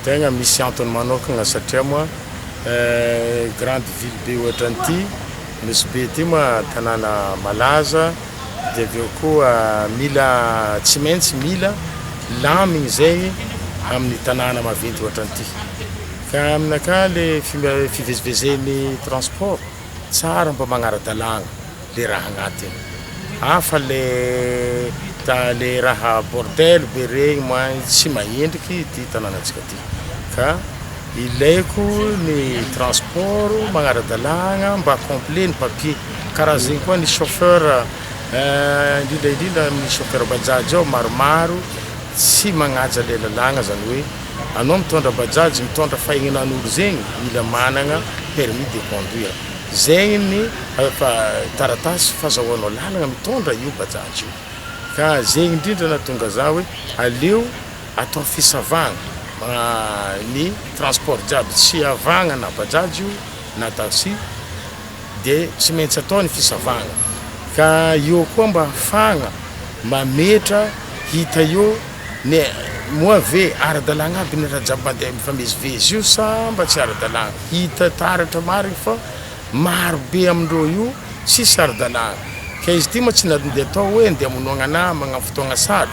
Tegna misy antony manokagna satria moa grande ville be ohatran'ity nosy be ity moa tanàna malaza dia avy eo koa mila tsy maintsy mila lamigny zay amin'ny tanàna maventy ohatran'ity ka aminakahy le fivezivezen'ny transport tsara mba magnara-dalàgna le raha agnatiny hafa le ta le raha bordel be regny mahay tsy mahendriky ty tanànantsika ty ka ilaiko ny transport magnara-dalàgna mba complet ny papier karaha zegny koa ny chauffeur eh, indrindra indrindra amin'ny chauffeur bajaj ao maromaro tsy magnaja le lalàgna zany hoe anao mitondra bajaj mitondra fahegnanan'olo zegny mila managna permis de conduire Izay ny taratasy fazahoanao lalana mitondra io Bajaj io. Ka izay indrindra nahatonga za hoe aleo atao fisavana ny transport jiaby tsy hiavagna na Bajaj io na taxi de tsy maintsy atao ny fisavagna. Ka eo koa mba ahafahagna mametra hita eo ny moa ve ara-dalagna aby ny raha jiaby mandeha mifamezivezy io sa mba tsy ara-dalagna. Hita taratra marina fa maro be amindreo io tsy saro-dalàna. Ka izy ity moa tsy nalody atao hoe ndeha hamonoagna namagna am fotoagna saro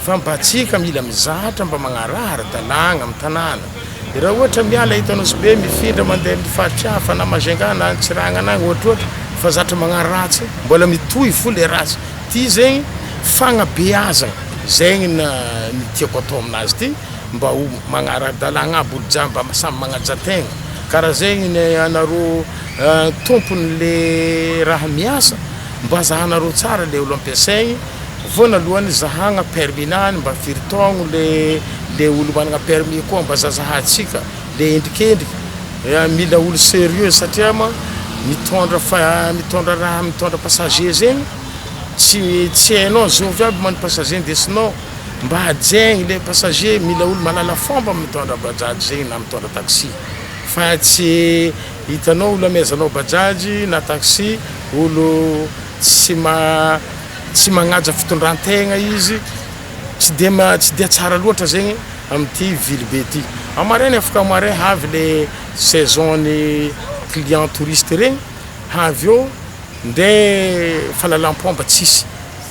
fa mba antsika mila mizatra mba magnaraha ara-dalàgna am tanàna. De raha ohatra miala eto Anosibe mifindra mandeha am faritra hafa na Majunga na any Tsiragnana agny ohatrohatry fa zatra magnano ratsy, mbola mitohy fo le ratsy. Ty zegny fagnabeazagna. Zegny ny tiako atao aminazy ty. mba ho magnaradalagna aby olo jiaby mba samy magnaja tegna kara zegny ny anareo tompony le raha miasa mba zahanareo tsara le olo ampiasaigny vonalohany zahagna permis nany mba firy taogno le le olo managna permis koa mba zazahantsika le endrikendriky mila olo serieux satria ma mitondra fa mitondra raha mitondra passager zegny tsy tsy hainao zovy aby man passager ndesinao mba hajeigny ilay passager mila olo mahalala fomba amin'ny mitondra bajaj zegny na mitondra taxi fa tsy hitanao olo amezanao bajaj na taxi olo tsy ma tsy magnaja fitondrantegna izy tsy de ma tsy de tsara loatra zegny amty vily be ty amaraigny afaka marin havy le saison ny client touriste regny havy eo ndre fahalalam-pomba tsisy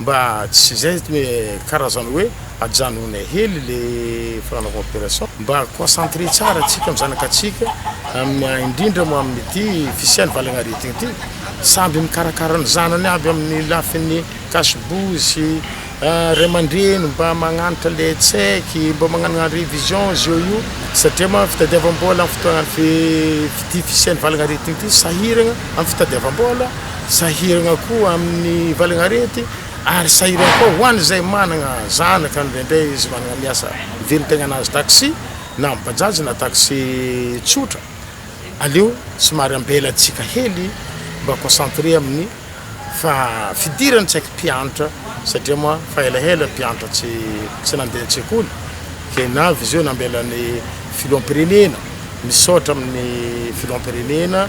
Mba tsy izay zany hoe karazana hoe ajanonay hely le fanaovana operation mba concentrer tsara tsika am zanakatsika am indrindra moa amin'ity fisian'ny valagnaretina ity samby mikarakara ny zanany aby amin'ny lafin'ny kasibozy ray aman-dreny mba magnantra le tsaiky mba magnanana revision izy eo io satria moa fitadiavam-bola am fotoanan'ity fisian'ny valagnaretina ity sahiragna am fitadiavam-bola Sahirana koa amin'ny valin'arety ary sahirana koa ho an'izay manana zanaka indraindray izy manana miasa mivelon-taignana azy taxi na am bajaj na taxi tsotra aleo somary ambelantsika hely mba concentré amin'ny fa fidiran'ny tsaiky mpiantra satria moa fa elaela ny mpiantra tsy tsy nandeha an-tsekoly ke na vizio nambelan'ny filoham-pirenena misaotra amin'ny filoham-pirenena